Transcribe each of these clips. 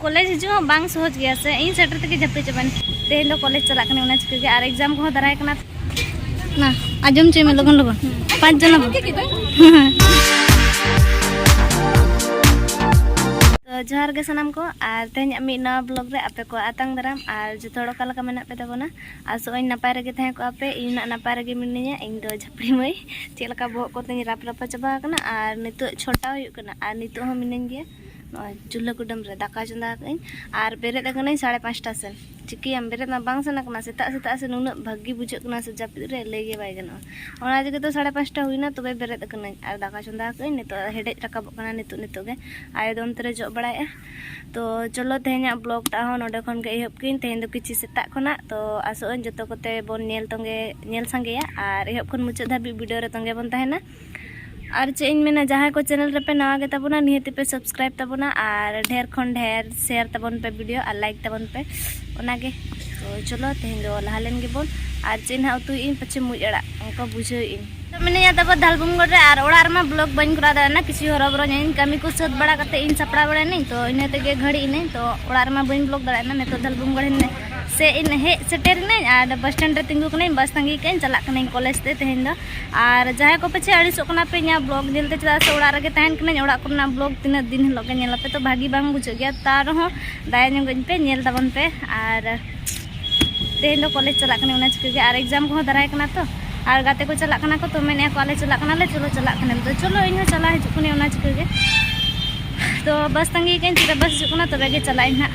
college ᱦᱤᱡᱩᱜ ᱦᱚᱸ ᱵᱟᱝ ᱥᱚᱦᱚᱡᱽ ᱜᱮᱭᱟ ᱥᱮ ᱤᱧ ᱥᱮᱴᱮᱨ ᱛᱮᱜᱮ ᱡᱟᱹᱯᱤ ᱪᱟᱵᱟᱱ ᱛᱮᱦᱮᱧ ᱫᱚ ᱠᱚᱞᱮᱡᱽ ᱪᱟᱞᱟᱜ ᱠᱟᱱᱟ ᱚᱱᱟ ᱪᱤᱠᱟᱹ ᱜᱮ ᱟᱨ ᱮᱠᱡᱟᱢ ᱠᱚᱦᱚᱸ ᱫᱟᱨᱟᱭ ᱠᱟᱱᱟ ᱱᱟ ᱟᱸᱡᱚᱢ ᱪᱚᱭ ᱢᱮ ᱞᱚᱜᱚᱱ ᱞᱚᱜᱚᱱ ᱯᱟᱸᱪ ᱡᱚᱱᱟ ᱡᱚᱦᱟᱨ ᱜᱮ ᱥᱟᱱᱟᱢ ᱠᱚ ᱟᱨ ᱛᱮᱦᱮᱧᱟᱜ ᱢᱤᱫ ᱱᱟᱣᱟ ᱵᱞᱚᱜ ᱨᱮ ᱟᱯᱮ ᱠᱚ ᱟᱛᱟᱝ ᱫᱟᱨᱟᱢ ᱟᱨ ᱡᱚᱛᱚ ᱦᱚᱲ ᱚᱠᱟ ᱞᱮᱠᱟ ᱢᱮᱱᱟᱜ ᱯᱮ ᱛᱟᱵᱚᱱᱟ ᱟᱥᱚᱜ ᱟᱹᱧ ᱱᱟᱯᱟᱭ ᱨᱮᱜᱮ ᱛᱟᱦᱮᱸ ᱠᱚᱜᱼᱟ ᱯᱮ ᱤᱧ ᱱᱟᱜ ᱱᱟᱯᱟᱭ ᱨᱮᱜᱮ ᱢᱤᱱᱟᱹᱧᱟ ᱤᱧ ᱫᱚ ᱡᱷᱟᱯᱲᱤ ᱢᱟᱹᱭ ᱪᱮᱫ ᱞᱮᱠᱟ ᱵᱚᱦᱚᱜ ᱠᱚ ᱛᱤᱧ ᱨᱟᱯ ᱨᱟᱯᱟ ᱪᱟᱵᱟ ᱟᱠᱟᱱᱟ ᱟᱨ ᱱᱤᱛᱚᱜ ᱪᱷᱚᱴᱟ ᱦᱩᱭᱩᱜ ᱠᱟᱱᱟ ᱟᱨ ᱱᱤᱛᱚᱜ ᱦᱚᱸ ᱢᱤᱱᱟᱹᱧ ᱜᱮᱭᱟ ᱱᱚᱜᱼᱚᱭ ᱪᱩᱞᱦᱟᱹ ᱠᱩᱰᱟᱹᱢ ᱨᱮ ᱫᱟᱠᱟ ᱪᱚᱸᱫᱟ ᱟᱠᱟᱫ ᱟᱹᱧ ᱟᱨ ᱵᱮᱨᱮᱫ ᱟᱠᱟᱱᱟᱹᱧ ᱥᱟᱲᱮ ᱯᱟᱸᱪᱴᱟ ᱥᱮᱱ ᱪᱤᱠᱟᱹᱭᱟᱢ ᱵᱮᱨᱮᱫ ᱢᱟ ᱵᱟᱝ ᱥᱟᱱᱟ ᱠᱟᱱᱟ ᱥᱮᱛᱟᱜ ᱥᱮᱛᱟᱜ ᱥᱮ ᱱᱩᱱᱟᱹᱜ ᱵᱷᱟᱹᱜᱤ ᱵᱩᱡᱷᱟᱹᱜ ᱠᱟᱱᱟ ᱥᱮ ᱡᱟᱹᱯᱤᱫ ᱨᱮ ᱞᱟᱹᱭ ᱜᱮ ᱵᱟᱭ ᱜᱟᱱᱚᱜᱼᱟ ᱚᱱᱟ ᱛᱮᱜᱮ ᱛᱚ ᱥᱟᱲᱮ ᱯᱟᱸᱪᱴᱟ ᱦᱩᱭᱱᱟ ᱛᱚᱵᱮ ᱵᱮᱨᱮᱫ ᱟᱠᱟᱱᱟᱹᱧ ᱟᱨ ᱫᱟᱠᱟ ᱪᱚᱸᱫᱟ ᱟᱠᱟᱫ ᱟᱹᱧ ᱱᱤᱛᱚᱜ ᱦᱮᱰᱮᱡ ᱨᱟᱠᱟᱵᱚᱜ ᱠᱟᱱᱟ ᱱᱤᱛᱚᱜ ᱱᱤᱛᱚᱜ ᱜᱮ ᱟᱭᱳ ᱫᱚ ᱚᱱᱛᱮ ᱨᱮ ᱡᱚᱜ ᱵᱟᱲᱟᱭᱮᱫᱼᱟ ᱛᱚ ᱪᱚᱞᱚ ᱛᱮᱦᱮᱧᱟᱜ ᱵᱞᱚᱜ ᱴᱟᱜ ᱦᱚᱸ ᱱᱚᱰᱮ ᱠᱷᱚᱱ ᱜᱮ ᱮᱦᱚᱵ ᱠᱤᱧ ᱛᱮᱦᱮᱧ ᱫᱚ ᱠᱤᱪᱷᱩ ᱥᱮᱛᱟᱜ ᱠᱷᱚᱱᱟᱜ ᱛᱚ ᱟᱥᱚᱜ ᱟᱹᱧ ᱡᱚᱛᱚ ᱠᱚᱛᱮ ᱵᱚᱱ ᱧᱮᱞ ᱛᱚᱸᱜᱮ ᱧᱮᱞ ᱥᱟᱸᱜᱮᱭᱟ ᱟᱨ ᱮᱦᱚᱵ ᱠᱷᱚᱱ ᱢᱩᱪᱟᱹᱫ ᱫᱷᱟᱹᱵᱤᱡ ᱵᱷᱤᱰᱤᱭᱳ ᱨᱮ ᱛᱚᱸᱜᱮ ᱵᱚᱱ ᱛᱟᱦᱮᱱᱟ ᱟᱨ ᱪᱮᱫ ᱤᱧ ᱢᱮᱱᱟ ᱡᱟᱦᱟᱸᱭ ᱠᱚ ᱪᱮᱱᱮᱞ ᱨᱮᱯᱮ ᱱᱟᱣᱟ ᱜᱮ ᱛᱟᱵᱚᱱᱟ ᱱᱤᱦᱟᱹᱛ ᱯᱮ ᱥᱟᱵᱥᱠᱨᱟᱭᱤᱵ ᱛᱟᱵᱚᱱᱟ ᱟᱨ ᱰᱷᱮᱨ ᱠᱷᱚᱱ ᱰᱷᱮᱨ ᱥᱮᱭᱟᱨ ᱛᱟᱵᱚᱱ ᱯᱮ ᱵᱷᱤᱰᱤᱭᱳ ᱟᱨ ᱞᱟᱭᱤᱠ ᱛᱟᱵᱚᱱ ᱯᱮ ᱚᱱᱟᱜᱮ ᱛᱚ ᱪᱚᱞᱚ ᱛᱮᱦᱮᱧ ᱫᱚ ᱞᱟᱦᱟ ᱞᱮᱱ ᱜᱮᱵᱚᱱ ᱟᱨ ᱪᱮᱫ ᱱᱟᱦᱟᱜ ᱩᱛᱩᱭᱮᱫ ᱟᱹᱧ ᱯᱟᱪᱷᱮ ᱢᱩᱡ ᱟᱲᱟᱜ ᱚᱱᱠᱟ ᱵᱩᱡᱷᱟᱹᱣᱮᱫ ᱟᱹᱧ ᱢᱤᱱᱟᱹᱧᱟ ᱛᱟᱯᱚᱨ ᱫᱷᱟᱞᱵᱩᱢᱜᱚᱲ ᱨᱮ ᱟᱨ ᱚᱲᱟᱜ ᱨᱮᱢᱟ ᱵᱞᱚᱜ ᱵᱟᱹᱧ ᱠᱚᱨᱟᱣ ᱫᱟᱲᱮᱭᱟᱜᱼᱟ ᱠᱤᱪᱷᱩ ᱦᱚᱨᱚᱵᱚᱨᱚ ᱧᱟᱹᱧ ᱠᱟᱹᱢᱤ ᱠᱚ ᱥᱟᱹᱛ ᱵᱟᱲᱟ ᱠᱟᱛᱮ ᱤᱧ ᱥᱟᱯᱲᱟᱣ ᱵᱟᱲᱟᱭᱱᱟᱹᱧ ᱛᱚ ᱤᱱᱟᱹ ᱛᱮᱜᱮ ᱜᱷᱟᱹᱲᱤ ᱤᱱᱟᱹᱧ ᱛᱚ ᱚᱲᱟᱜ ᱨᱮᱢᱟ ᱵᱟᱹᱧ ᱵᱞᱚᱜ ᱫᱟᱲᱮᱭᱟᱜᱼᱟ ᱱᱤᱛᱚᱜ ᱫᱷᱟᱞᱵᱩᱢᱜᱚᱲ ᱥᱮ ᱤᱧ ᱦᱮᱡ ᱥᱮᱴᱮᱨᱤᱱᱟᱹᱧ ᱟᱨ ᱵᱟᱥ ᱥᱴᱮᱱᱰ ᱨᱮ ᱛᱤᱸᱜᱩ ᱠᱟᱹᱱᱟᱹᱧ ᱵᱟᱥ ᱛᱟᱺᱜᱤ ᱠᱟᱹᱧ ᱪᱟᱞᱟᱜ ᱠᱟᱹᱱᱟᱹᱧ ᱠᱚᱞᱮᱡᱽ ᱛᱮ ᱛᱮᱦᱮᱧ ᱫᱚ ᱟᱨ ᱡᱟᱦᱟᱸᱭ ᱠᱚ ᱯᱟᱪᱷᱮ ᱟᱹᱲᱤᱥᱚᱜ ᱠᱟᱱᱟ ᱯᱮ ᱤᱧᱟᱹᱜ ᱵᱞᱚᱜ ᱧᱮᱞᱛᱮ ᱪᱮᱫᱟᱜ ᱥᱮ ᱚᱲᱟᱜ ᱨᱮᱜᱮ ᱛᱟᱦᱮᱱ ᱠᱟᱹᱱᱟᱹᱧ ᱚᱲᱟᱜ ᱠᱚᱨᱮᱱᱟᱜ ᱵᱞᱚᱜ ᱛᱤᱱᱟᱹᱜ ᱫᱤᱱ ᱦᱤᱞᱳᱜ ᱜᱮ ᱧᱮᱞᱟᱯᱮ ᱛᱚ ᱵᱷᱟᱹᱜᱤ ᱵᱟᱝ ᱵᱩᱡᱷᱟᱹᱜ ᱜᱮᱭᱟ ᱛᱟᱣ ᱨᱮᱦᱚᱸ ᱫᱟᱭᱟ ᱧᱚᱜᱟᱹᱧ ᱯᱮ ᱧᱮᱞ ᱛᱟᱵᱚᱱ ᱯᱮ ᱟᱨ ᱛᱮᱦᱮᱧ ᱫᱚ ᱠᱚᱞᱮᱡᱽ ᱪᱟᱞᱟᱜ ᱠᱟᱱᱟ ᱚᱱᱟ ᱪᱤᱠᱟᱹ ᱜᱮ ᱟᱨ ᱮᱠᱡᱟᱢ ᱠᱚᱦᱚᱸ ᱫᱟᱨᱟᱭ ᱠᱟᱱᱟ ᱛᱚ ᱟᱨ ᱜᱟᱛᱮ ᱠᱚ ᱪᱟᱞᱟᱜ ᱠᱟᱱᱟ ᱠᱚ ᱛᱚ ᱢᱮᱱᱮᱫ ᱟᱠᱚ ᱟᱞᱮ ᱪᱟᱞᱟᱜ ᱠᱟᱱᱟᱞᱮ ᱪᱚᱞᱚ ᱪᱟᱞᱟᱜ ᱠᱟᱱᱟᱢ ᱛᱚ ᱪᱚᱞᱚ ᱤᱧ ᱦᱚᱸ ᱪᱟᱞᱟᱣ ᱦᱤᱡᱩᱜ ᱠᱟᱹᱱᱟᱹᱧ ᱚᱱᱟ ᱪᱤᱠᱟᱹ ᱜᱮ ᱛᱚ ᱵᱟᱥ ᱛᱟᱺᱜᱤ ᱠᱟᱹᱧ ᱛᱤᱨᱮ ᱵᱟᱥ ᱦᱤᱡᱩᱜ ᱠᱟᱱᱟ ᱛᱚᱵᱮ ᱜᱮ ᱪᱟᱞᱟᱜ ᱟᱹᱧ ᱦᱟᱸᱜ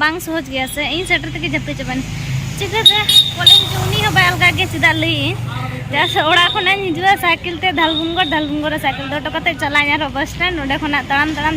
ᱵᱟᱝ ᱥᱚᱦᱚᱡ ᱜᱮᱭᱟ ᱥᱮ ᱤᱧ ᱥᱮᱴᱮᱨ ᱛᱮᱜᱮ ᱡᱟᱹᱯᱤᱫ ᱪᱟᱵᱟᱭᱮᱱ ᱪᱤᱠᱟᱹᱛᱮ ᱠᱚᱞᱮᱡᱽ ᱦᱤᱡᱩᱜ ᱩᱱᱤ ᱦᱚᱸ ᱵᱟᱭ ᱟᱞᱜᱟ ᱜᱮ ᱪᱮᱫᱟᱜ ᱞᱟᱹᱭᱟᱹᱧ ᱪᱮᱫᱟᱜ ᱥᱮ ᱚᱲᱟᱜ ᱠᱷᱚᱱᱟᱜ ᱤᱧ ᱦᱤᱡᱩᱜᱼᱟ ᱥᱟᱭᱠᱮᱞ ᱛᱮ ᱫᱷᱟᱞᱵᱷᱩᱢᱜᱚᱲ ᱫᱷᱟᱞᱵᱷᱩᱢᱜᱚᱲ ᱨᱮ ᱥᱟᱭᱠᱮᱞ ᱫᱚᱦᱚ ᱦᱚᱴᱚ ᱠᱟᱛᱮᱫ ᱪᱟᱞᱟᱜ ᱟᱹᱧ ᱟᱨᱦᱚᱸ ᱵᱟᱥ ᱥᱴᱮᱱᱰ ᱚᱸᱰᱮ ᱠᱷᱚᱱᱟᱜ ᱛᱟᱲᱟᱢ ᱛᱟᱲᱟᱢ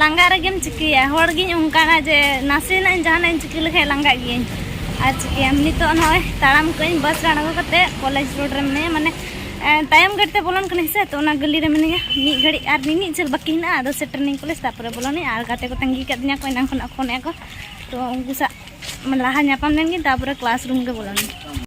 ᱞᱟᱸᱜᱟ ᱨᱮᱜᱮᱢ ᱪᱤᱠᱟᱹᱭᱟ ᱦᱚᱲ ᱜᱤᱧ ᱚᱱᱠᱟᱱᱟ ᱡᱮ ᱱᱟᱥᱮᱱᱟᱜ ᱡᱟᱦᱟᱱᱟᱜ ᱤᱧ ᱪᱤᱠᱟᱹ ᱞᱮᱠᱷᱟᱱ ᱞᱟᱸᱜᱟᱜ ᱜᱤᱭᱟᱹᱧ ᱟᱨ ᱪᱤᱠᱟᱹᱭᱟᱢ ᱱᱤᱛᱚᱜ ᱱᱚᱜᱼᱚᱭ ᱛᱟᱲᱟᱢ ᱠᱟᱹᱧ ᱵᱟᱥ ᱨᱮ ᱟᱬᱜᱚ ᱠᱟᱛᱮ ᱠᱚᱞᱮᱡᱽ ᱨᱳᱰ ᱨᱮ ᱢᱤᱱᱟᱹᱧᱟ ᱢᱟᱱᱮ ᱛᱟᱭᱚᱢ ᱜᱟᱹᱰᱤ ᱛᱮ ᱵᱚᱞᱚᱱ ᱠᱟᱹᱱᱟᱹᱧ ᱥᱮ ᱛᱚ ᱚᱱᱟ ᱜᱟᱹᱞᱤ ᱨᱮ ᱢᱤᱱᱟᱹᱧᱟ ᱢᱤᱫ ᱜᱷᱟᱹᱲᱤᱡ ᱟᱨ ᱢᱤᱢᱤᱫ ᱡᱷᱟᱹᱞ ᱵᱟᱹᱠᱤ ᱦᱮᱱᱟᱜᱼᱟ ᱟᱫᱚ ᱥᱮᱴᱮᱨᱱᱟᱹᱧ ᱠᱚᱞᱮᱡᱽ ᱛᱟᱯᱚᱨᱮ ᱵᱚᱞᱚᱱᱟᱹᱧ ᱟᱨ ᱜᱟᱛᱮ ᱠᱚ ᱛᱟᱺᱜᱤ ᱠᱟᱫᱤᱧᱟ ᱠᱚ ᱮᱱᱟᱝ ᱠᱷᱚᱱᱟᱜ ᱯᱷᱳᱱᱮᱫᱼᱟ ᱠᱚ ᱛᱚ ᱩᱱᱠᱩ ᱥᱟᱶ ᱞᱟᱦᱟ ᱧᱟᱯᱟᱢ ᱞᱮᱱᱜᱤᱧ ᱛᱟᱯᱚᱨᱮ ᱠᱞᱟᱥ ᱨᱩᱢ ᱜᱮ ᱵᱚᱞᱚᱱᱟᱹᱧ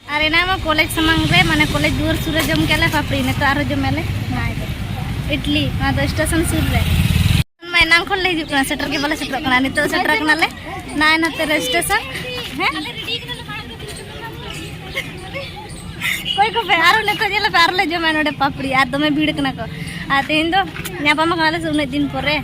ᱟᱨ ᱮᱱᱟ ᱢᱟ ᱠᱚᱞᱮᱡᱽ ᱥᱟᱢᱟᱝ ᱨᱮ ᱢᱟᱱᱮ ᱠᱚᱞᱮᱡᱽ ᱫᱩᱣᱟᱹᱨ ᱥᱩᱨ ᱨᱮ ᱡᱚᱢ ᱠᱮᱞᱮ ᱯᱟᱯᱲᱤ ᱱᱤᱛᱚᱜ ᱟᱨᱦᱚᱸ ᱡᱚᱢ ᱟᱞᱮ ᱱᱟᱭ ᱫᱚ ᱤᱰᱞᱤ ᱱᱚᱣᱟ ᱫᱚ ᱥᱴᱮᱥᱚᱱ ᱥᱩᱨ ᱨᱮ ᱢᱟ ᱮᱱᱟᱝ ᱠᱷᱚᱱ ᱞᱮ ᱦᱤᱡᱩᱜ ᱠᱟᱱᱟ ᱥᱮᱴᱮᱨ ᱜᱮ ᱵᱟᱞᱮ ᱥᱮᱴᱮᱨᱚᱜ ᱠᱟᱱᱟ ᱱᱤᱛᱚᱜ ᱥᱮᱴᱮᱨ ᱠᱟᱱᱟᱞᱮ ᱱᱟᱭ ᱱᱟᱛᱮ ᱨᱮ ᱥᱴᱮᱥᱚᱱ ᱦᱮᱸ ᱚᱠᱚᱭ ᱠᱚᱯᱮ ᱟᱨᱚ ᱱᱤᱛᱚᱜ ᱧᱮᱞ ᱯᱮ ᱟᱨᱚ ᱞᱮ ᱡᱚᱢᱟ ᱱᱚᱰᱮ ᱯᱟᱯᱲᱤ ᱟᱨ ᱫᱚᱢᱮ ᱵᱷᱤᱲ ᱠᱟᱱᱟ ᱠᱚ ᱟᱨ ᱛᱮᱦᱮᱧ ᱫᱚ ᱧᱟᱯᱟᱢ ᱟᱠᱟᱱᱟᱞᱮ ᱥᱮ ᱩᱱᱟᱹᱜ ᱫᱤᱱ ᱯᱚᱨᱮ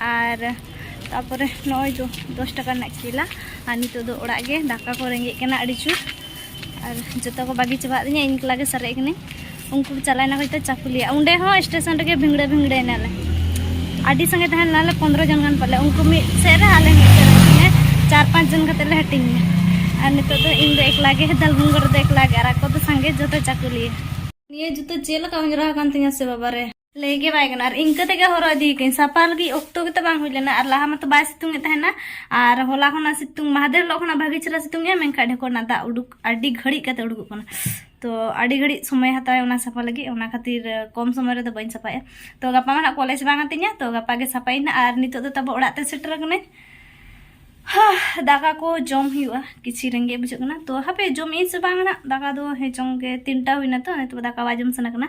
ᱟᱨ ᱛᱟᱯᱚᱨᱮ ᱱᱚᱜᱼᱚᱭ ᱫᱚ ᱫᱚᱥ ᱴᱟᱠᱟ ᱨᱮᱱᱟᱜ ᱠᱮᱞᱟ ᱟᱨ ᱱᱤᱛᱚᱜ ᱫᱚ ᱚᱲᱟᱜ ᱜᱮ ᱫᱟᱠᱟ ᱠᱚ ᱨᱮᱸᱜᱮᱡ ᱠᱟᱱᱟ ᱟᱹᱰᱤ ᱡᱳᱨ ᱟᱨ ᱡᱚᱛᱚ ᱠᱚ ᱵᱟᱹᱜᱤ ᱪᱟᱵᱟᱜ ᱛᱤᱧᱟᱹ ᱤᱧ ᱮᱠᱞᱟ ᱜᱮ ᱥᱟᱨᱮᱡ ᱠᱟᱹᱱᱟᱹᱧ ᱩᱱᱠᱩ ᱠᱚ ᱪᱟᱞᱟᱣᱮᱱᱟ ᱦᱚᱭᱛᱳ ᱪᱟᱹᱠᱩᱞᱤᱭᱟ ᱚᱸᱰᱮ ᱦᱚᱸ ᱥᱴᱮᱥᱚᱱ ᱨᱮᱜᱮ ᱵᱷᱤᱝᱲᱟᱹ ᱵᱷᱤᱝᱲᱟᱹ ᱮᱱᱟᱞᱮ ᱟᱹᱰᱤ ᱥᱟᱸᱜᱮ ᱛᱟᱦᱮᱸ ᱞᱮᱱᱟᱞᱮ ᱯᱚᱱᱨᱚ ᱡᱚᱱ ᱜᱟᱱ ᱯᱟᱞᱮ ᱩᱱᱠᱩ ᱢᱤᱫ ᱥᱮᱫ ᱨᱮ ᱟᱞᱮ ᱢᱤᱫ ᱥᱮᱫ ᱨᱮ ᱪᱟᱨ ᱯᱟᱸᱪ ᱡᱚᱱ ᱠᱟᱛᱮ ᱞᱮ ᱦᱟᱹᱴᱤᱧ ᱮᱱᱟ ᱟᱨ ᱱᱤᱛᱚᱜ ᱫᱚ ᱤᱧ ᱫᱚ ᱮᱠᱞᱟ ᱜᱮ ᱫᱟᱞᱵᱩᱝᱜᱚ ᱨᱮᱫᱚ ᱮᱠᱞᱟ ᱜᱮ ᱟᱨ ᱟᱠᱚ ᱫᱚ ᱥᱟᱸᱜᱮ ᱡᱚᱛᱚ ᱪᱟᱹᱠᱩᱞᱤᱭᱟ ᱱᱤᱭᱟᱹ ᱡᱩᱛᱟᱹ ᱪᱮᱫ ᱞᱮᱠᱟ ᱚᱸᱡᱽᱨᱟ ᱟᱠᱟᱱ ᱛᱤᱧᱟᱹ ᱥᱮ ᱵᱟᱵᱟ ᱨᱮ ᱞᱟᱹᱭ ᱜᱮ ᱵᱟᱭ ᱜᱟᱱᱚᱜᱼᱟ ᱟᱨ ᱤᱱᱠᱟᱹ ᱛᱮᱜᱮ ᱦᱚᱨᱚᱜ ᱤᱫᱤ ᱠᱟᱹᱧ ᱥᱟᱯᱟ ᱞᱟᱹᱜᱤᱫ ᱚᱠᱛᱚ ᱜᱮᱛᱚ ᱵᱟᱝ ᱦᱩᱭ ᱞᱮᱱᱟ ᱟᱨ ᱞᱟᱦᱟ ᱢᱟᱛᱚ ᱵᱟᱭ ᱥᱤᱛᱩᱝ ᱮᱫ ᱛᱟᱦᱮᱱᱟ ᱟᱨ ᱦᱚᱞᱟ ᱠᱷᱚᱱᱟᱜ ᱥᱤᱛᱩᱝ ᱢᱟᱦᱫᱮᱨ ᱦᱤᱞᱳᱜ ᱠᱷᱚᱱᱟᱜ ᱵᱷᱟᱜᱮ ᱪᱮᱦᱨᱟ ᱥᱤᱛᱩᱝ ᱮᱜᱼᱟ ᱢᱮᱱᱠᱷᱟᱱ ᱰᱷᱮᱠᱚᱨ ᱨᱮᱱᱟᱜ ᱫᱟᱜ ᱩᱰᱩᱠ ᱟᱹᱰᱤ ᱜᱷᱟᱹᱲᱤᱡ ᱠᱟᱛᱮ ᱩᱰᱩᱠᱚᱜ ᱠᱟᱱᱟ ᱛᱚ ᱟᱹᱰᱤ ᱜᱷᱟᱹᱲᱤᱡ ᱥᱚᱢᱚᱭ ᱦᱟᱛᱟᱣᱟᱭ ᱚᱱᱟ ᱥᱟᱯᱷᱟ ᱞᱟᱹᱜᱤᱫ ᱚᱱᱟ ᱠᱷᱟᱹᱛᱤᱨ ᱠᱚᱢ ᱥᱚᱢᱚᱭ ᱨᱮᱫᱚ ᱵᱟᱹᱧ ᱥᱟᱯᱷᱟᱭᱟ ᱛᱚ ᱜᱟᱯᱟ ᱢᱟ ᱱᱟᱜ ᱠᱚᱞᱮᱡᱽ ᱵᱟᱝ ᱟᱹᱛᱤᱧᱟ ᱛᱚ ᱜᱟᱯᱟ ᱜᱮ ᱥᱟᱯᱷᱟᱭᱤᱧ ᱱᱟᱜ ᱟᱨ ᱱᱤᱛᱚᱜ ᱫᱚ ᱛᱟᱵᱚ ᱚᱲᱟᱜ ᱛᱮ ᱥᱮᱴᱮᱨ ᱠᱟᱹᱱᱟᱹᱧ ᱫᱟᱠᱟ ᱠᱚ ᱡᱚᱢ ᱦᱩᱭᱩᱜᱼᱟ ᱠᱤᱪᱷᱤ ᱨᱮᱸᱜᱮᱡ ᱵᱩᱡᱷᱟᱹᱜ ᱠᱟᱱᱟ ᱛᱚ ᱦᱟᱯᱮ ᱡᱚᱢ ᱤᱧ ᱥᱮ ᱵᱟᱝ ᱱᱟᱜ ᱫᱟᱠᱟ ᱫᱚ ᱦᱮᱸ ᱪᱚᱝ ᱜᱮ ᱛᱤᱱᱴᱟ ᱦᱩᱭᱱᱟ ᱛᱚ ᱱᱤᱛᱚᱜ ᱫᱟᱠᱟ ᱵᱟᱭ ᱡᱚᱢ ᱥᱟᱱᱟ ᱠᱟᱱᱟ